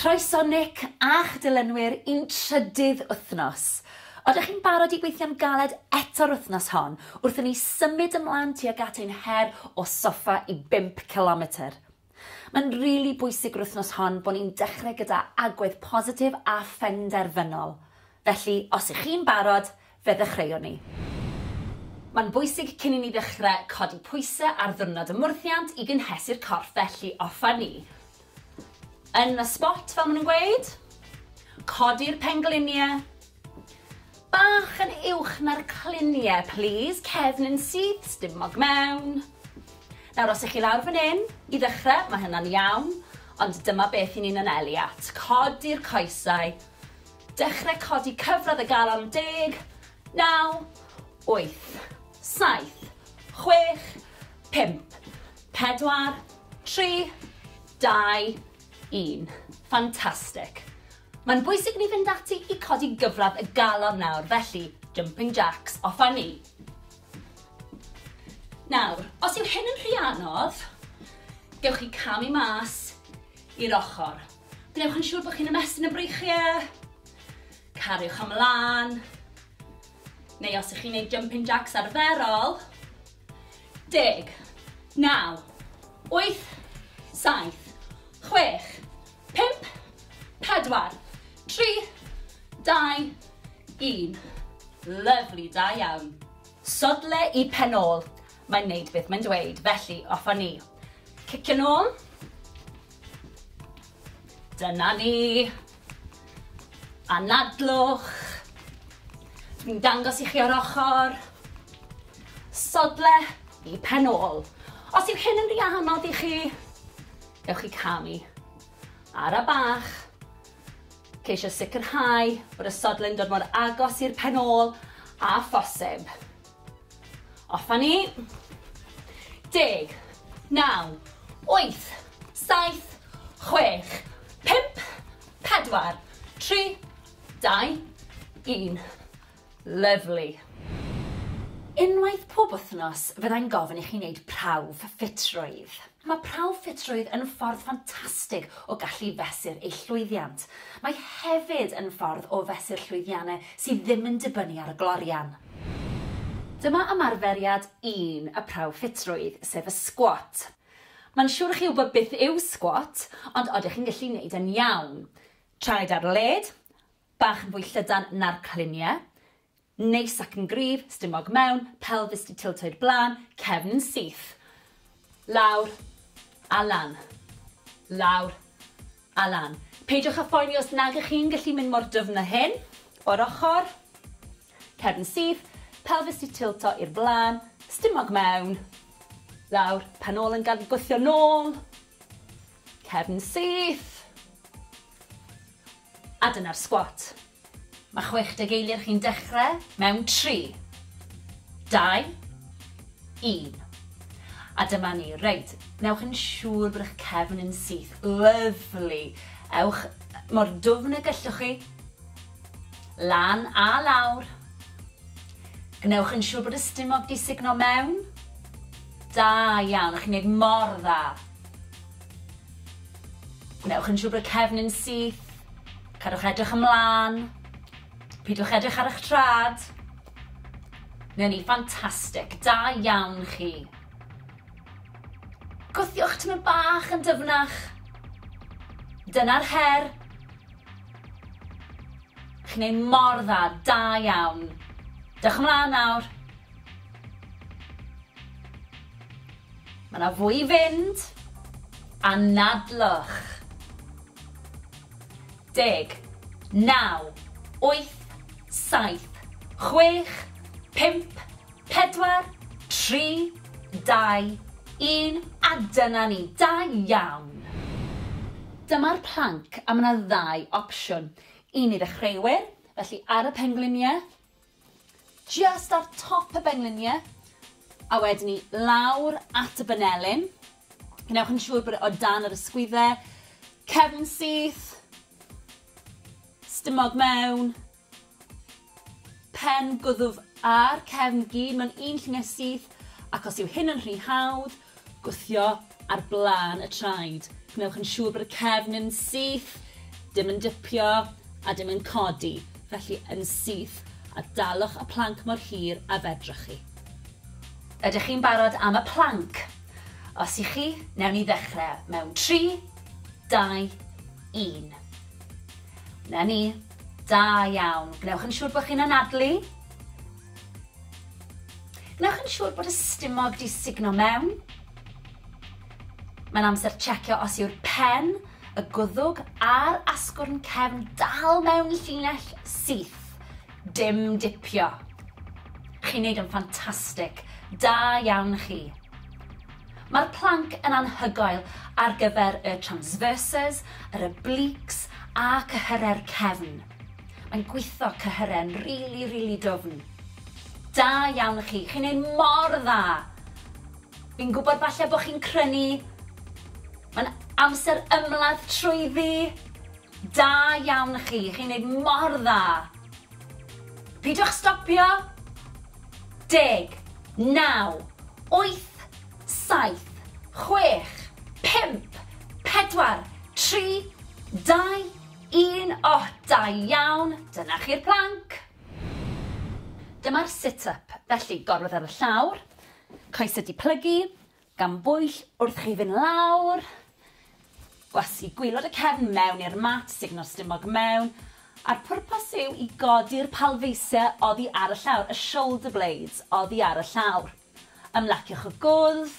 Croeso Nick a'ch dilynwyr i'n trydydd wythnos. Odych chi'n barod i weithio'n galed eto'r wythnos hon wrth i ni symud ymlan tuag at ein her o soffa i bump cilometr? Mae'n rili bwysig yr wythnos hon bod ni'n dechrau gyda agwedd positif a phenderfynol. Felly, os 'ych chi'n barod, Fe ddechreuon ni. Mae'n bwysig cyn i ni ddechrau codi pwysau ar ddiwrnod ymwrthiant i gynhesu'r corff felly offer ni yn y spot fel maen nhw'n gweud, codi'r pengliniau bach yn uwch na'r cliniau plîs, cefn yn syth, stumog mewn. Nawr os ych chi lawr fan hyn, i ddechrau mae hynna'n iawn, ond dyma beth i ni'n anelu at, codi'r coesau, Dechrau codi cyfradd y galon deg, naw, wyth, saith, chwech, pump, pedwar, tri, dau, un. Fantastic. Mae'n bwysig ni fynd ati i codi gyfradd y galon nawr, felly jumping jacks, off a ni. Nawr, os yw hyn yn rhy anodd, gewch chi camu mas i'r ochr. Gwnewch yn siŵr bod chi'n ymestyn y breichiau. Cariwch ymlaen. Neu os ych chi'n gwneud jumping jacks arferol. Deg, naw, wyth, saith, chwech, pimp, pedwar, tri, dau, un. Lyflu, da iawn. Sodle i pen ôl. Mae'n neud beth mae'n dweud, felly off â ni. Cicio'n ôl. Dyna ni. Anadlwch. Dwi'n dangos i chi o'r ochr. Sodle i pen ôl. Os yw hyn yn rhy anodd i chi, ewch i camu. Ara bach. Ceisio sicrhau bod y sodle'n dod mor agos i'r pen ôl a phosib. Off a ni. Deg. Naw. Wyth. Saith. Chwech. Pump. Pedwar. Tri. Dau. Un. Lyfli. Unwaith pob wythnos fyddai'n gofyn i chi wneud prawf ffitrwydd. Mae prawf ffitrwydd yn ffordd ffantastig o gallu fesur eich llwyddiant. Mae hefyd yn ffordd o fesur llwyddiannau sydd ddim yn dibynnu ar y glorian. Dyma ymarferiad un y prawf ffitrwydd, sef y sgwat. Mae'n siwr i chi wybod beth yw sgwat, ond odych chi'n gallu neud e'n iawn? Traed ar led, bach yn fwy llydan na'r cliniau, Neis ac yn gryf, stumog mewn, pelfis 'di tiltoi'r blaen, cefn yn syth. Lawr a lan. Lawr a lan. Peidiwch â phoeni os nag ych chi'n gallu mynd mor dyfn â hyn. O'r ochr. Cefn yn syth, pelfis 'di tilto i'r blaen, stumog mewn. Lawr, pen ôl yn gad gwthio nôl. Cefn syth. A dyna'r sgwat. Mae 60 eiliad chi'n dechrau mewn 3, 2, 1. A dyma ni. Reit, newch yn siŵr bod eich cefn yn syth. Lyfli. Ewch mor dwfn y gellwch chi. Lan a lawr. Gwnewch yn siŵr bod y stumog di signo mewn. Da iawn, chi'n gwneud mor dda. Gwnewch yn siŵr bod cefn yn syth. Cadwch edrych ymlaen. Pidwch edrych ar eich trad. Neu ni, ffantastig. Da iawn chi. Gwthiwch tymor bach yn dyfnach. Dyna'r her. Chi'n ei mor dda, da iawn. Dewch ymlaen nawr. Mae 'na fwy i fynd. Anadlwch. Deg. Naw. Wyth. Saith. Chwech. Pump. Pedwar. Tri. Dau. Un. A dyna ni. Da iawn! Dyma'r planc a mae 'na ddau opsiwn. Un i ddechreuwyr, felly ar y pengliniau, Jyst ar top y bengliniau a wedyn ni lawr at y banelin. Gwnewch yn siŵr bod e o dan yr ysgwydde, cefn syth, stumog mewn, pen gwddf a'r cefn gyd mewn un lluniau syth ac os yw hyn yn rhy hawdd, Gwthio ar blaen y traed. Gwnewch yn siŵr bod y cefn yn syth, dim yn dipio a dim yn codi, felly yn syth, a dalwch y planc mor hir a fedrwch chi. Ydych chi'n barod am y planc? Os y'ch chi, newn ni ddechrau mewn tri, dau, un. 'Na ni. Da iawn. Gwnewch yn siŵr bod chi'n anadlu. Wnewch yn siŵr bod y stumog 'di sugno mewn. Mae'n amser checio os yw'r pen, y gwddwg a'r asgwrn cefn dal mewn llinell syth. Dim dipio. Chi'n neud yn ffantastig. Da iawn chi. Mae'r planc yn anhygoel ar gyfer y transverses, yr obliques a cyhyrau'r cefn. Mae'n gwitho cyhyren rili rili dwfn. Da iawn i chi, chi'n neud mor dda! Fi'n gwybod falle bod chi'n crynu, mae'n amser ymladd trwyddi! Da iawn i chi, chi'n neud mor dda! Pidwch stopio! Deg, naw, wyth, saith, chwech, pump, pedwar, tri, dau, Un ohh da iawn! Dyna chi'r plank! Dyma'r sit up, felly gorwedd ar y llawr, coesau di plygu, gan bwyll wrth chi fynd lawr, gwasgu gwylod y cefn mewn i'r mat, sugno'r stumog mewn, a'r pwrpas yw i godi'r palfeisiau oddi ar y llawr, y shoulder blades oddi ar y llawr. Ymlaciwch y gwddf,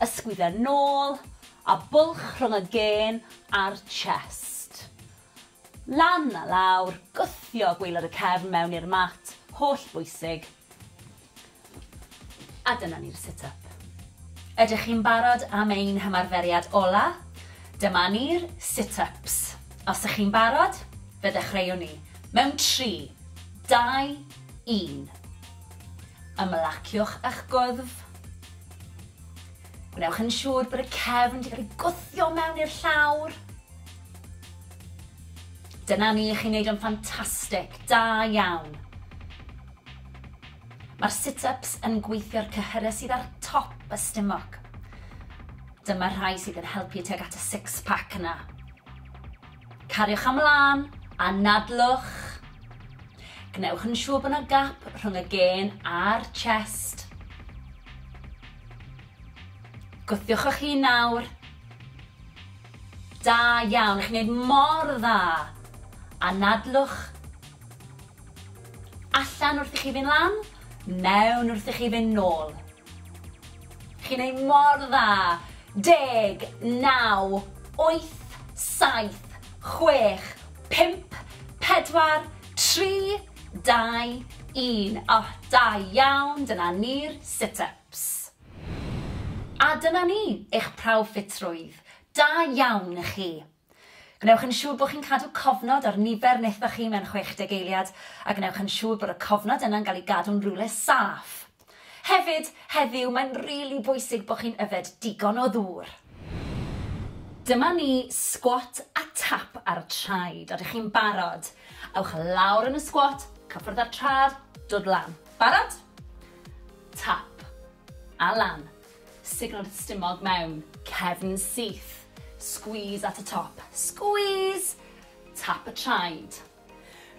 ysgwyd a nôl, a bwlch rhwng y gên a'r chest. Lan a lawr, gwthio gwaelod y cefn mewn i'r mat, holl bwysig. A dyna ni'r sit up. Ydych chi'n barod am ein hymarferiad ola? Dyma ni'r sit ups. Os ych chi'n barod, fe ddechreuwn ni. Mewn tri, dau, un. Ymlaciwch â'ch gwddf. Gwnewch yn siŵr bod y cefn wedi cael ei gwthio mewn i'r llawr. Dyna ni, chi'n neud o'n ffantastig, da iawn. Mae'r sit-ups yn gweithio'r cyhyrau sydd ar top y stumog. Dyma'r rhai sydd yn helpu tuag at y six-pack yna. Cariwch am lân, anadlwch. Gwnewch yn siŵr bod yna gap rhwng y gên a'r chest. Gwthiwch o'ch hun nawr. Da iawn, chi'n gwneud mor dda. Anadlwch. Allan wrth i chi fynd lan, mewn wrth i chi fynd nôl. Chi'n neud mor dda! Deg, naw, wyth, saith, chwech, pump, pedwar, tri, dau, un. O, da iawn, dyna ni'r sit-ups. A dyna ni, eich prawf ffitrwydd. Da iawn i chi. Gwnewch yn siŵr bod chi'n cadw cofnod ar nifer nethoch chi mewn 60 eiliad, a gwnewch yn siŵr bod y cofnod yna'n cael ei gadw'n rywle saff. Hefyd, heddiw, mae'n rili bwysig bod chi'n yfed digon o ddŵr. Dyma ni, sgwat a tap ar y traed. Odych chi'n barod? Ewch lawr yn y sgwat, cyffwrdd â'r traed, dod lan. Barod? Tap. A lan. Signalled stumog mewn, cefn syth. Squeeze at y top, squeeze! Tap y traed.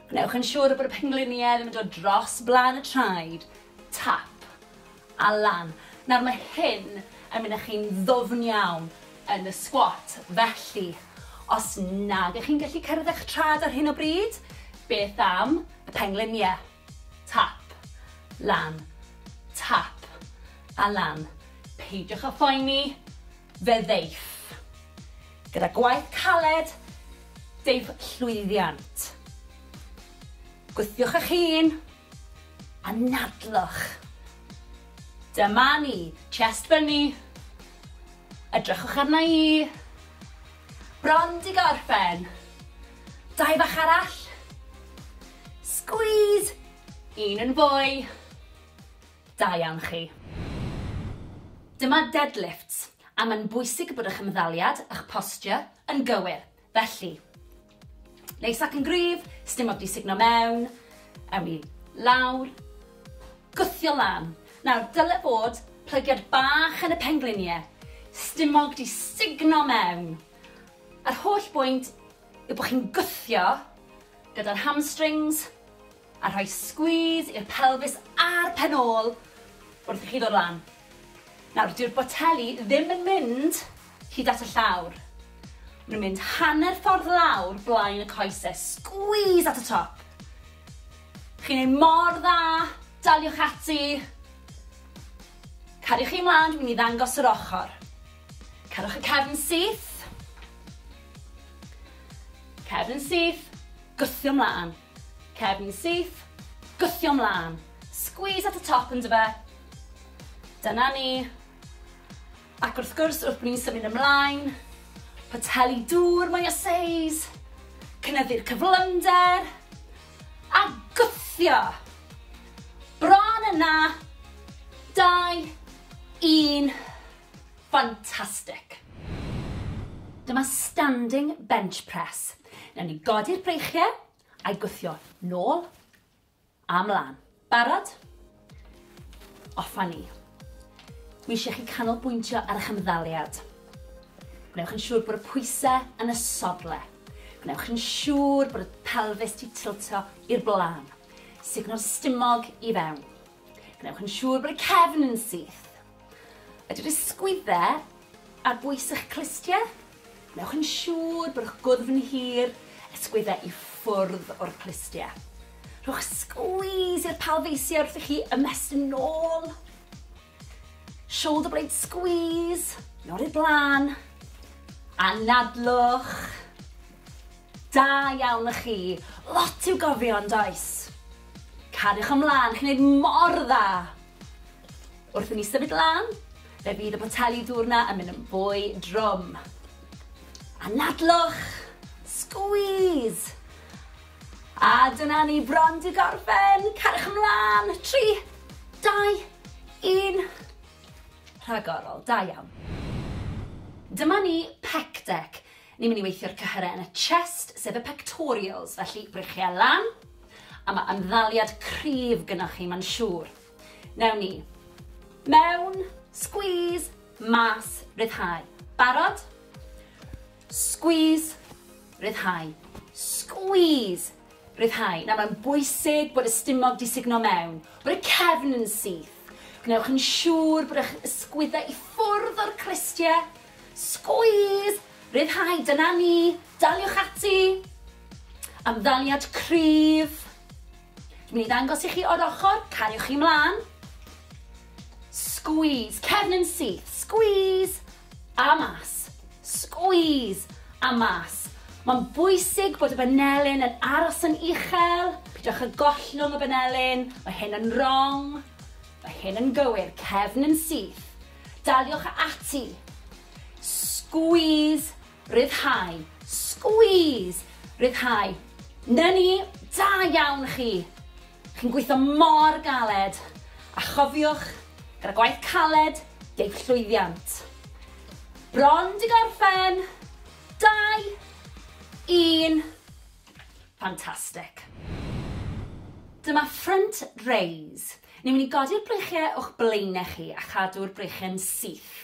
Gwnewch yn siŵr bod y pengliniau ddim yn dod dros blaen y traed. Tap. A lan. Nawr mae hyn yn mynd â chi'n ddwfn iawn yn y squat, felly os nag ych chi'n gallu cyrraedd eich traed ar hyn o bryd, beth am y pengliniau? Tap. Lan. Tap. A lan. Peidiwch â phoeni, fe ddeiff. Gyda gwaith caled, deiff llwyddiant. Gwthiwch eich hun, a nadlwch. Dyma ni. Chest fyny. Edrychwch arna i. Bron di gorffen. Dau fach arall. Squeeze! Un yn fwy. Da iawn chi. Dyma deadlifts, a mae'n bwysig bod eich ymddaliad, eich posture, yn gywir, felly. Neis ac yn gryf, sdim modd disugno mewn. Ewn ni lawr. Gwthio lan. Nawr, dyle bod plygiad bach yn y penglinie. Stumog di sugno mewn. Yr holl bwynt yw bod chi'n gwthio gyda'r hamstrings, A rhoi squeeze i'r pelfis a'r pen ôl wrth i chi ddod lan. Nawr, dyw'r boteli ddim yn mynd hyd at y llawr. Maen nhw'n mynd hanner ffordd lawr blaen y coese. Squeeze at y top. Chi'n ei mor dda, daliwch ati. Cariwch chi mlaen, dwi'n mynd i ddangos yr ochr. Cerwch y cefn syth. Cefn syth, gwthio mlaen. Cefn syth, gwthio mlân. Squeeze at y top yndyfe? Dyna ni. Ac wrth gwrs, wrth bod ni'n symud ymlaen, poteli dŵr mwy o seis, cynyddu'r cyflymder, a gwthio. Bron yna. 2, 1. Fantastic. Dyma standing bench press. Newn ni godi'r breichie a'i gwthio nôl a mlan. Barod? Off a ni. Dwi eisiau chi canolbwyntio ar eich ymddaliad. Gwnewch yn siŵr bod y pwysau yn y sodle. Gwnewch yn siŵr bod y pelfis ti tiltio i'r blaen. Sugno'r stumog i fewn. Gwnewch yn siŵr bod y cefn yn syth. Ydy'r ysgwydde ar bwys eich clustie? Wnewch yn siŵr bod eich gwddf yn hir, ysgwydde i ffwrdd o'r clustie. Rhowch squeeze i'r palfeisiau wrth i chi ymestyn yn ôl. Shoulder blade squeeze, nod i'r blaen. Anadlwch. Da iawn y chi. Lot i'w gofio yn does? Cariwch ymlaen, chi'n neud mor dda. Wrth i ni symud lan, fe fydd y poteli dŵr 'na yn mynd yn fwy drwm. Anadlwch! Squeeze! A dyna ni bron 'di gorffen! Cariwch ymlan! Tri, dau, un. Rhagorol, da iawn. Dyma ni pec deck. Ni'n mynd i weithio'r cyhyrau yn y chest, sef y pectorials, felly brychiau lan, a mae ymddaliad cryf gynnwch chi, mae'n siŵr. Newn ni. Mewn. Squeeze. Mas. Ryddhau. Barod? Squeeze. Ryddhau. Squeeze. Ryddhau. Nawr mae'n bwysig bod y stumog di sugno mewn, bod y cefn yn syth. Gwnewch yn siŵr bod eich ysgwyddau i ffwrdd o'r cristiau. Squeeze! Ryddhau, dyna ni. Daliwch ati. Amddaliad cryf. Dwi'n mynd i ddangos i chi o'r ochr, cariwch chi mlaen. Squeeze, cefn yn syth, squeeze, a mas, squeeze, a mas. Mae'n bwysig bod y banelyn yn aros yn uchel, pidwch â gollwng y banelyn, mae hyn yn wrong, mae hyn yn gywir, cefn yn syth. Daliwch ati, squeeze, Rhyddhau. Squeeze! Rhyddhau. 'Na ni! Da iawn chi! Chi'n gweithio mor galed! A chofiwch, gyda gwaith caled, deiff llwyddiant. Bron 'di gorffen! Dau! Un! Fantastic. Dyma front raise. Ni'n mynd i godi'r breichiau o'ch blaenau chi a chadw'r breichiau'n syth.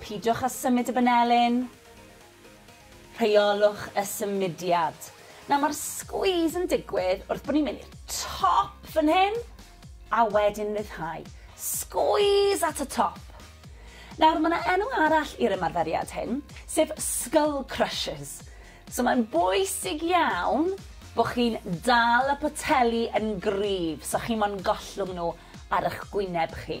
Peidiwch â symud y banelin. Rheolwch y symudiad. Nawr mae'r squeeze yn digwydd wrth bod ni'n mynd i'r top fan hyn a wedyn ryddhau. Squeeze at y top. Nawr mae yna enw arall i'r ymarferiad hyn, sef skull crushes. So mae'n bwysig iawn bod chi'n dal y poteli yn gryf so chi mo'n gollwng nhw ar eich gwyneb chi.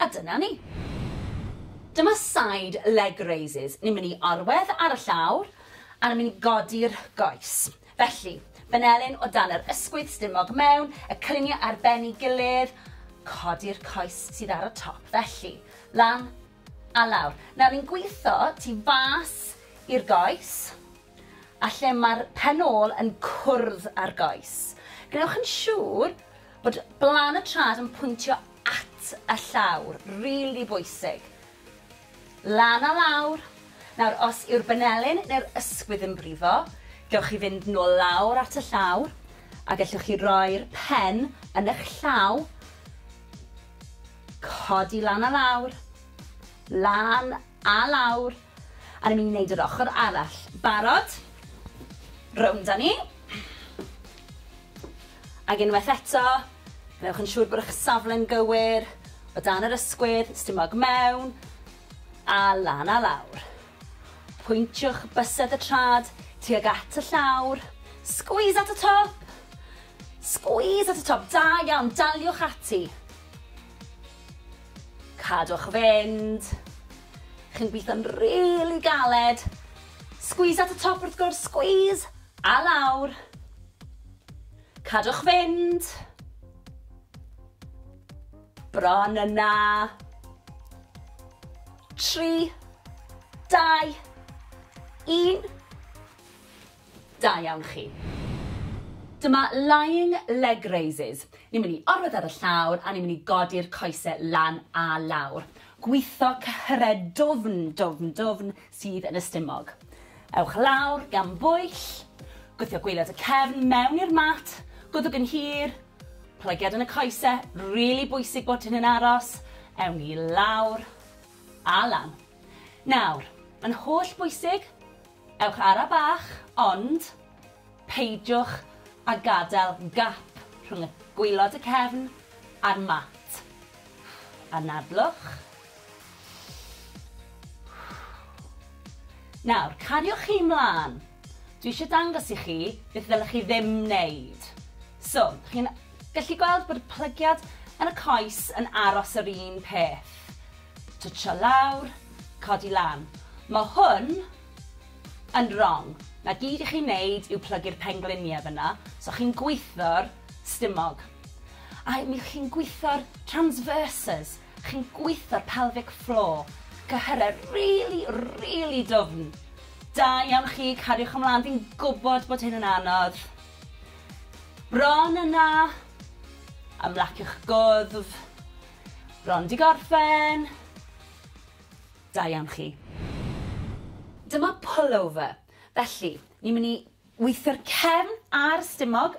A dyna ni. Dyma side leg raises. Ni'n mynd i orwedd ar y llawr a ni'n mynd i godi'r goes. Felly, benelin o dan yr ysgwydd stumog mewn, y cylunie ar ben ei gilydd, codi'r coes sydd ar y top. Felly, lan a lawr. Nawr ni'n gwitho tu fas i'r goes a lle mae'r pen ôl yn cwrdd â'r goes. Gwnewch yn siŵr bod blan y trad yn pwyntio at y llawr, rili bwysig. Lan a lawr. Nawr, os yw'r banelin neu'r ysgwydd yn brifo, gewch chi fynd nôl lawr at y llawr, a gellwch chi roi'r pen yn eich llaw, codi lan a lawr, lan a lawr, a ni'n mynd i wneud yr ochr arall. Barod? Rownd â ni. Ac unwaith eto, gwnewch yn siŵr bod eich safle'n gywir, o dan yr ysgwydd, stumog mewn a lan a lawr. Pwyntiwch bysedd y trad tuag at y llawr, squeeze at y top! Squeeze at y top, da iawn, daliwch ati. Cadwch fynd. Chi'n gweithio'n rili galed. Squeeze at y top wrth gwrs, squeeze! A lawr. Cadwch fynd. Bron yna. Tri. Dau. Un. Da iawn chi. Dyma lying leg raises. Ni'n mynd i orwedd ar y llawr a ni'n mynd i godi'r coesau lan a lawr. Gwitho cyhyred dwfn, dwfn, dwfn, sydd yn y stumog. Ewch lawr gan bwyll, gwthio gwaelod y cefn mewn i'r mat, gwddwg yn hir, plygiad yn y coese, rili bwysig bod hyn yn aros, ewn ni lawr a lan. Nawr, yn holl bwysig, ewch ara bach, ond peidiwch a gadael gap rhwng y gwaelod y cefn a'r mat. Anadlwch. Nawr, cariwch chi 'mlan. Dwi eisiau dangos i chi beth ddylech chi ddim wneud. So, chi'n gallu gweld bod y plygiad yn y coes yn aros yr un peth. Twtsio lawr, codi lan. Mae hwn yn wrong. Na gyd i chi wneud yw plygu'r pengliniau fyna, so chi'n gwitho'r stumog. A mi chi'n gwitho'r transverses, Chi'n gwitho'r pelvic floor. Cyhyrau rili, rili dwfn. Da iawn chi, cariwch ymlaen, fi'n gwybod bod hyn yn anodd. Bron yna. Ymlaciwch gwddf. Bron di gorffen. Da iawn chi. Dyma pullover. Felly, ni'n mynd i weithio'r cefn a'r stumog,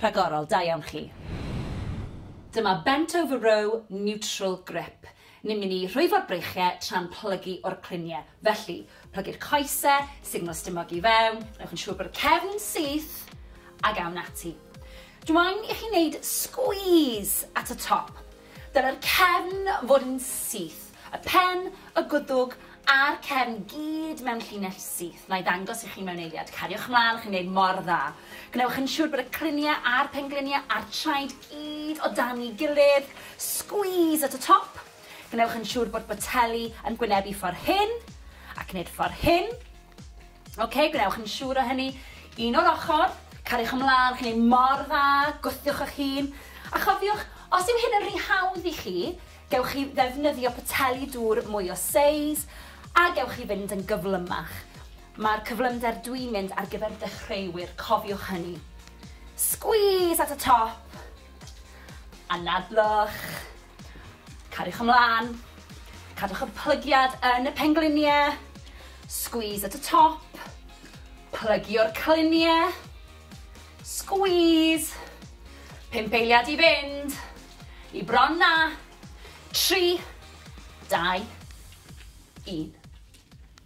Rhagorol, da iawn chi. Dyma bent over row neutral grip. Ni'n mynd i rhwyfo'r breichiau tra'n plygu o'r clunie. Felly, plygu'r coese, signal stumog i fewn, gwnewch yn siŵr bod y cefn yn syth, ag awn ati. Dw i'n i chi wneud squeeze at y top. Dylai'r cefn fod yn syth, y pen, y gwddwg a'r cefn gyd mewn llinell syth. Na'i ddangos i chi mewn eiliad. Cariwch mlaen, chi'n gwneud mor dda. Gwnewch yn siŵr bod y cliniau a'r pengliniau a'r traed gyd o dan ei gilydd. Squeeze at y top. Gwnewch yn siŵr bod boteli yn gwynebu ffordd hyn, ac wneud ffordd hyn. Ok, gwnewch yn siŵr o hynny. Un o'r ochr, cariwch ymlaen, chi'n ei mor dda, gwthiwch eich hun. A chofiwch, os yw hyn yn rhy hawdd i chi, gewch chi ddefnyddio poteli dŵr mwy o seis, a gewch chi fynd yn gyflymach. Mae'r cyflymder dwi'n mynd ar gyfer dechreuwyr, cofiwch hynny. Squeeze at y top, anadlwch. Cariwch ymlaen. Cadwch y plygiad yn y pengliniau. Squeeze at y top. Plygio'r cliniau. Squeeze. Pump eiliad i fynd. I bron na. Tri. Dau. Un.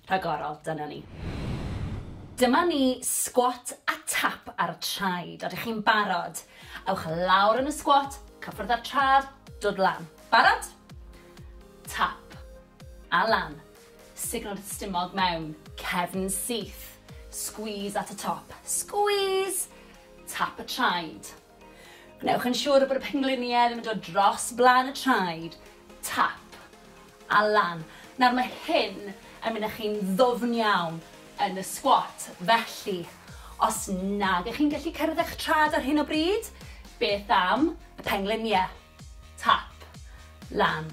Rhagorol, dyna ni. Dyma ni, sgwat a tap ar y traed. Odych chi'n barod? Ewch lawr yn y sgwat, cyffwrdd â'r trad, dod lan. Barod? Tap. A lan. Signal i'r stumog mewn. Cefn syth. Squeeze at y top. Squeeze! Tap y traed. Gwnewch yn siŵr bod y pengliniau ddim yn dod dros blaen y traed, tap, a lan. Nawr mae hyn yn mynd â chi'n ddwfn iawn yn y squat, felly os nag ych chi'n gallu cyrraedd eich traed ar hyn o bryd, beth am y pengliniau? Tap. Lan.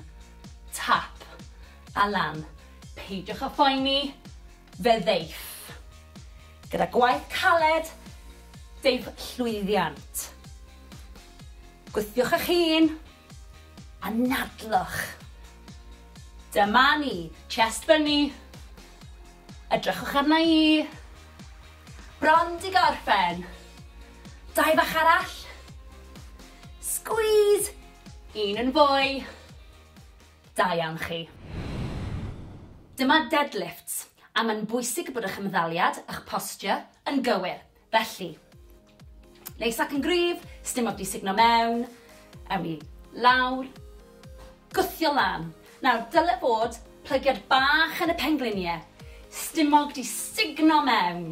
Tap. A lan. Peidiwch â phoeni, fe ddeiff. Gyda gwaith caled, deiff llwyddiant. Gwthiwch eich hun, a nadlwch. Dyma ni. Chest fyny. Edrychwch arna i. Bron di gorffen. Dau fach arall. Squeeze! Un yn fwy. Da iawn chi. Dyma deadlifts, a mae'n bwysig bod eich ymddaliad, eich posture, yn gywir. Felly, neis ac yn gryf, sdim o'r di sugno mewn. Ewn ni lawr. Gwthio lan. Nawr, dyle fod plygiad bach yn y pengliniau. Stumog di sugno mewn.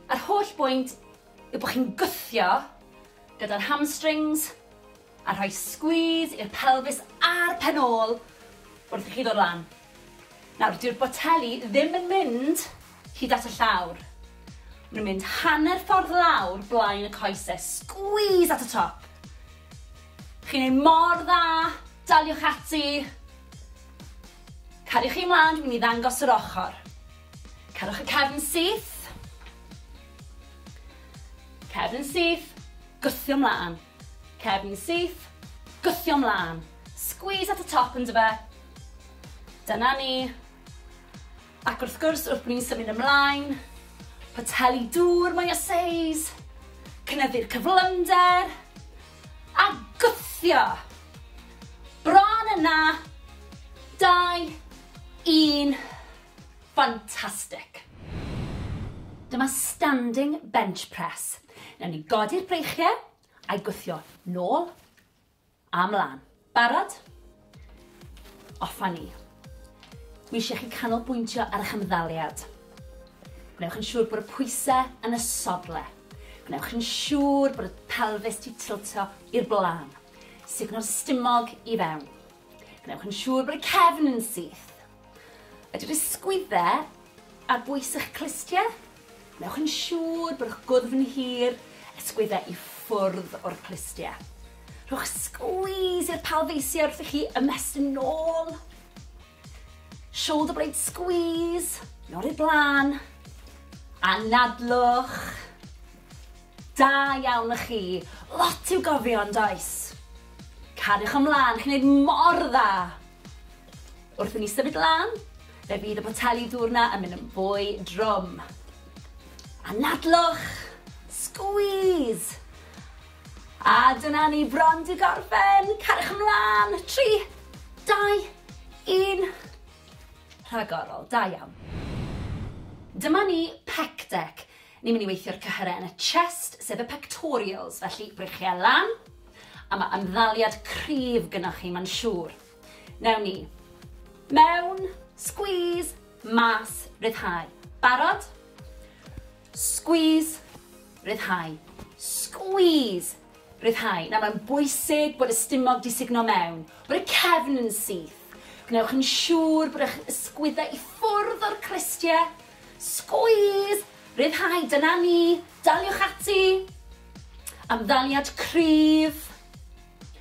Yr holl bwynt yw bod chi'n gwthio gyda'r hamstrings, a rhoi sgwîs i'r pelfis a'r pen ôl wrth i chi ddod lan. Nawr, dyw'r boteli ddim yn mynd hyd at y llawr. Maen nhw'n mynd hanner ffordd lawr blaen y coesau. Sgwîs at y top. Chi'n ei mor dda, daliwch ati. Cariwch chi mlaen, dwi'n mynd i ddangos yr ochr. Cariwch y cefn syth. Cefn syth, gwthio mlân. Cefn syth, gwthio mlân. Squeeze at y top yndyfe? Dyna ni. Ac wrth gwrs, wrth bod ni'n symud ymlaen, poteli dŵr mwy o seis, cynyddu'r cyflymder, a gwthio. Bron yna. 2, 1. Ffantastic! Dyma standing bench press. Newn ni godi'r breichie, a'i gwthio nôl a mlan. Barod? Off a ni. Dwi eisiau chi canolbwyntio ar eich ymddaliad. Gwnewch yn siŵr bod y pwyse yn y sodle. Gwnewch yn siŵr bod y pelfis ti tiltio i'r blaen. Sugno'r stumog i fewn. Gwnewch yn siŵr bod y cefn yn syth. Ydy'r ysgwyddau ar bwys eich clustiau? Wnewch yn siŵr bod eich gwddf yn hir, ysgwyddau i ffwrdd o'r clustiau. Rhowch squeeze i'r palfeisiau wrth i chi ymestyn yn ôl. Shoulder blade squeeze, yn ôl i'r blaen. Anadlwch. Da iawn y chi. Lot i'w gofio yn does? Cariwch ymlaen, chi'n neud mor dda. Wrth i ni symud lan, fe fydd y poteli dŵr 'na yn mynd yn fwy drwm. Anadlwch! Squeeze! A dyna ni bron 'di gorffen! Cariwch ymlan! Tri, dau, un. Rhagorol, da iawn. Dyma ni pec deck. Ni'n mynd i weithio'r cyhyrau yn y chest, sef y pectorials, felly breichiau lan, a mae ymddaliad cryf gynnwch chi, mae'n siŵr. Newn ni. Mewn, squeeze, mas, ryddhau. Barod? Squeeze, ryddhau. Squeeze, ryddhau. Nawr mae'n bwysig bod y stumog di sugno mewn, bod y cefn yn syth. Gwnewch yn siŵr bod eich ysgwyddau i ffwrdd o'r crestiau. Squeeze, ryddhau, dyna ni, daliwch ati. Amddaliad cryf.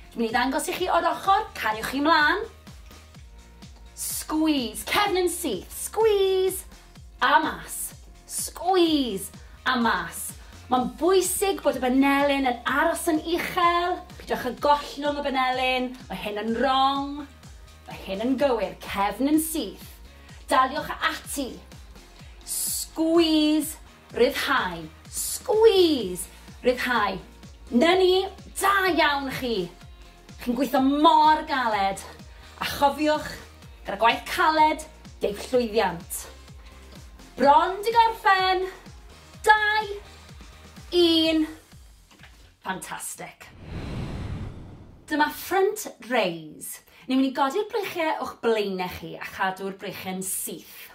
Dwi'n mynd i ddangos i chi o'r ochr, cariwch chi mlaen. Squeeze, cefn yn syth, squeeze, a mas, squeeze, a mas. Mae'n bwysig bod y banelyn yn aros yn uchel, pidwch â gollwng y banelyn, mae hyn yn wrong, mae hyn yn gywir, cefn yn syth. Daliwch ati. Squeeze Rhyddhau. Squeeze! Rhyddhau. 'Na ni! Da iawn chi! Chi'n gweithio mor galed! A chofiwch, gyda gwaith caled, deiff llwyddiant. Bron 'di gorffen! Dau! Un! Fantastic! Dyma front raise. Ni'n mynd i godi'r breichiau o'ch blaenau chi a chadw'r breichiau'n syth.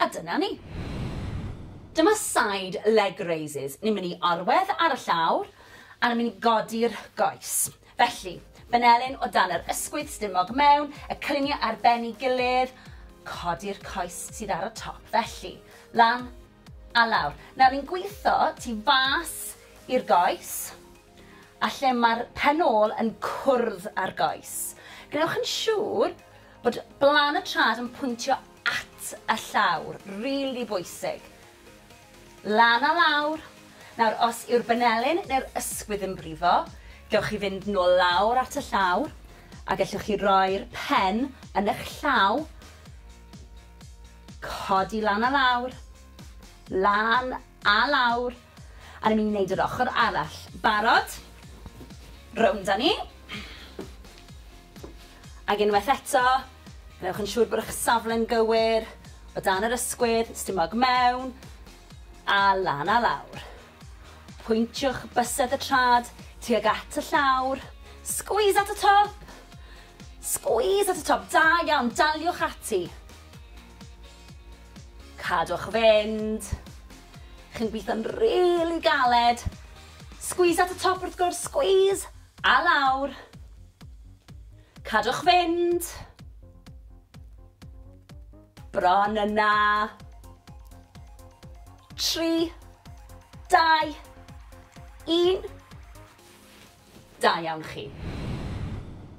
A dyna ni. Dyma side leg raises. Ni'n mynd i orwedd ar y llawr a ni'n mynd i godi'r goes. Felly, benelin o dan yr ysgwydd stumog mewn, y cylunie ar ben i gilydd, codi'r coes sydd ar y top. Felly, lan a lawr. Nawr ni'n gwitho tu fas i'r goes a lle mae'r pen ôl yn cwrdd â'r goes. Gwnewch yn siŵr bod blan y trad yn pwyntio at y llawr, rili bwysig. Lan a lawr. Nawr, os yw'r banelyn neu'r ysgwydd yn brifo, gewch chi fynd nôl lawr at y llawr, a gellwch chi roi'r pen yn eich llaw, codi lan a lawr, lan a lawr, a ni'n mynd i wneud yr ochr arall. Barod? Rownd â ni. Ac unwaith eto, gwnewch yn siŵr bod eich safle'n gywir, o dan yr ysgwydd, stumog mewn, a lan a lawr. Pwyntiwch bysedd y trad tuag at y llawr, squeeze at y top! Squeeze at y top, da iawn, daliwch ati. Cadwch fynd. Chi'n gweithio'n rili galed. Squeeze at y top wrth gwrs, squeeze! A lawr. Cadwch fynd. Bron yna. Tri. Dau. Un. Da iawn chi.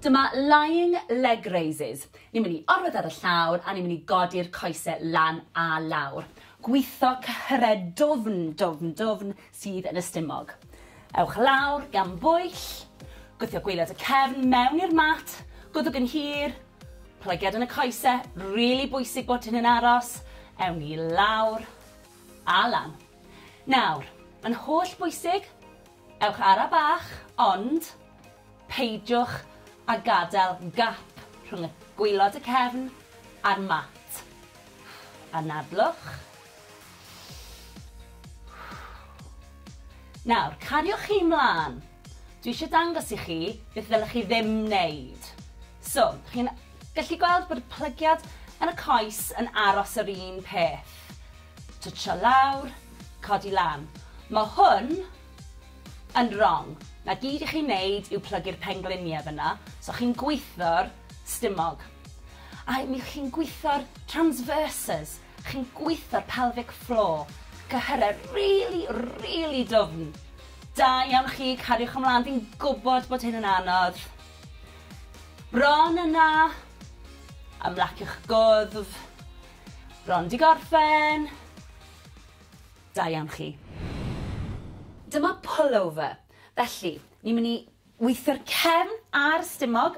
Dyma lying leg raises. Ni'n mynd i orwedd ar y llawr a ni'n mynd i godi'r coesau lan a lawr. Gwitho cyhyred dwfn, dwfn, dwfn, sydd yn y stumog. Ewch lawr gan bwyll, gwthio gwaelod y cefn mewn i'r mat, gwddwg yn hir, plygiad yn y coese, rili bwysig bod hyn yn aros, ewn ni lawr a lan. Nawr, yn holl bwysig, ewch ara bach, ond peidiwch a gadael gap rhwng y gwaelod y cefn a'r mat. Anadlwch, Nawr, cariwch chi 'mlan. Dwi eisiau dangos i chi beth ddylech chi ddim wneud. So, chi'n gallu gweld bod y plygiad yn y coes yn aros yr un peth. Twtsio lawr, codi lan. Mae hwn yn wrong. Na gyd i chi wneud yw plygu'r pengliniau fyna, so chi'n gwitho'r stumog. A mi chi'n gwitho'r transverses, Chi'n gweithio'r pelvic floor. Cyhyrau rili, rili dwfn. Da iawn chi, cariwch ymlaen, fi'n gwybod bod hyn yn anodd. Bron yna. Ymlaciwch gwddf. Bron di gorffen. Da iawn chi. Dyma pullover. Felly, ni'n mynd i weithio'r cefn a'r stumog,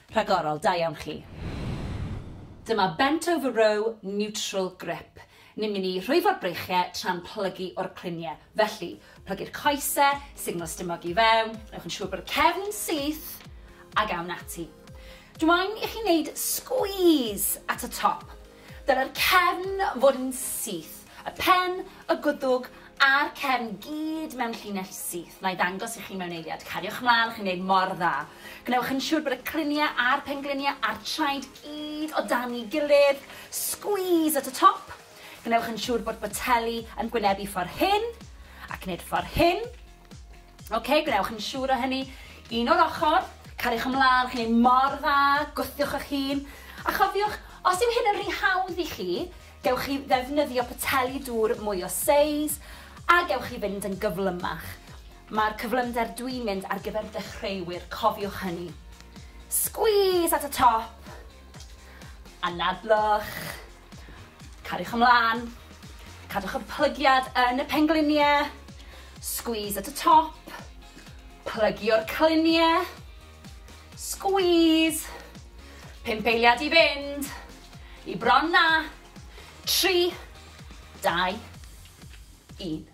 Rhagorol, da iawn chi. Dyma bent over row neutral grip. Ni'n mynd i rhwyfo'r breichie tra'n plygu o'r clunie. Felly, plygu'r coese, signal stumog i fewn, newch yn siŵr bod y cefn yn syth, ag awn ati. Dw i'n i chi wneud squeeze at y top. Dylai'r cefn fod yn syth, y pen, y gwddwg a'r cefn gyd mewn llinell syth. Wna i ddangos i chi mewn eiliad. Cariwch mlaen, chi'n gwneud mor dda. Gwnewch yn siŵr bod y criniau a'r pengliniau a'r traed gyd o dan ei gilydd. Squeeze at y top. Gwnewch yn siŵr bod boteli yn gwynebu ffordd hyn, ac wneud ffordd hyn. Ok, gwnewch yn siŵr o hynny. Un o'r ochr, cariwch ymlaen, chi'n ei mor dda, gwthiwch eich hun. A chofiwch, os yw hyn yn rhy hawdd i chi, gewch chi ddefnyddio poteli dŵr mwy o seis, a gewch chi fynd yn gyflymach. Mae'r cyflymder dwi'n mynd ar gyfer dechreuwyr, cofiwch hynny. Squeeze at y top, anadlwch. Cariwch ymlaen. Cadwch y plygiad yn y pengliniau. Squeeze at y top. Plygio'r cliniau. Squeeze. Pump eiliad i fynd. I bron na. Tri. Dau. Un.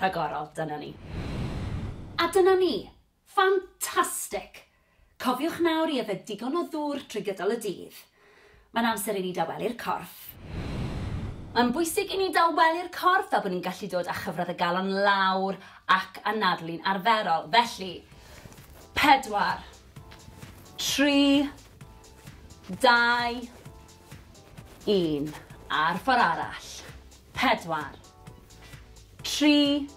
Rhagorol, dyna ni. A dyna ni. Ffantastig! Cofiwch nawr i yfed digon o ddŵr trwy gydol y dydd. Mae'n amser i ni dawelu'r corff. Mae'n bwysig i ni dawelu'r corff fel bod ni'n gallu dod â chyfradd y galon lawr ac anadlu'n arferol. Felly, pedwar, tri, dau, un. A'r ffordd arall. Pedwar, tri,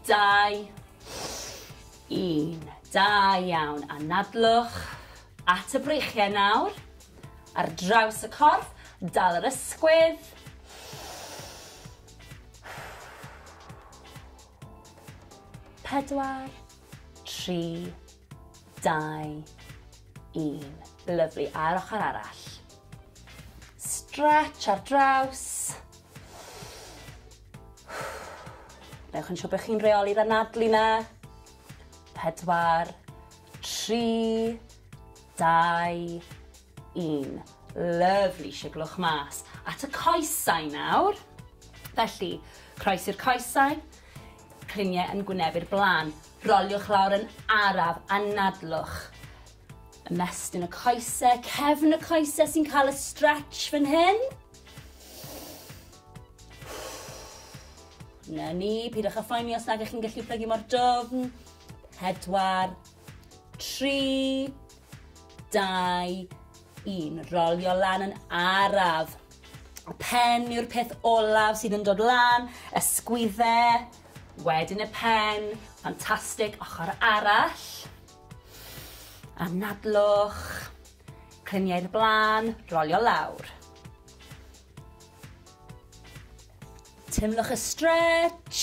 Dau, un. Da iawn. Anadlwch at y breichiau nawr. Ar draws y corff, dal yr ysgwydd. Pedwar, tri, dau, un. Lyflu. A'r ochr arall. Stretch ar draws. Newch yn siŵr bod chi'n reoli'r anadlu na. Pedwar, tri, dau, un. Lyfli, siglwch mas. At y coesau nawr. Felly, croes i'r coesau, cliniau yn gwynebu'r blaen. Roliwch lawr yn araf, anadlwch. Ymestyn y coesau, cefn y coesau sy'n cael y stretch fan hyn. Na ni, pidwch â phoeni os nag ych chi'n gallu plygu mor dofn. Pedwar, tri, dau, un. Rolio lan yn araf. Y pen yw'r peth olaf sydd yn dod lan, ysgwydde, wedyn y pen, ffantastig, ochr arall. Anadlwch, cliniau'r blaen, rolio lawr. Teimlwch y stretch.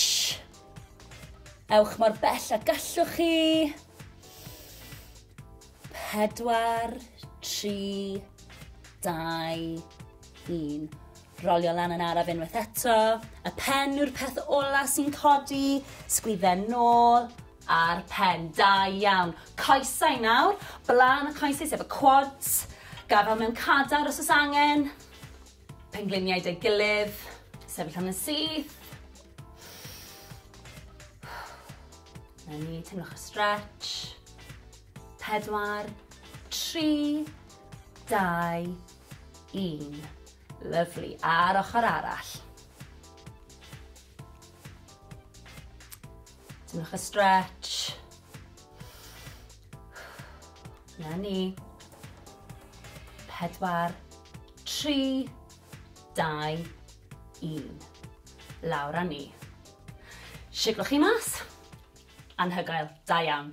Ewch mor bell a gallwch chi. Pedwar, tri, dau, un. Rolio lan yn araf unwaith eto. Y pen yw'r peth ola sy'n codi. Sgwydden nôl a'r pen. Da iawn. Coesau nawr. Blaen y coesau sef y quads. Gafel mewn cadar os oes angen. Pengliniau 'da'i gilydd. Sefyll am yn syth. Na ni, teimlwch y stretch. Pedwar, tri, dau, un. Lyflu. A'r ochr arall. Teimlwch y stretch. Na ni. Pedwar, tri, dau, un. Lawr a ni. Siglwch chi mas. Anhygoel. Da iawn.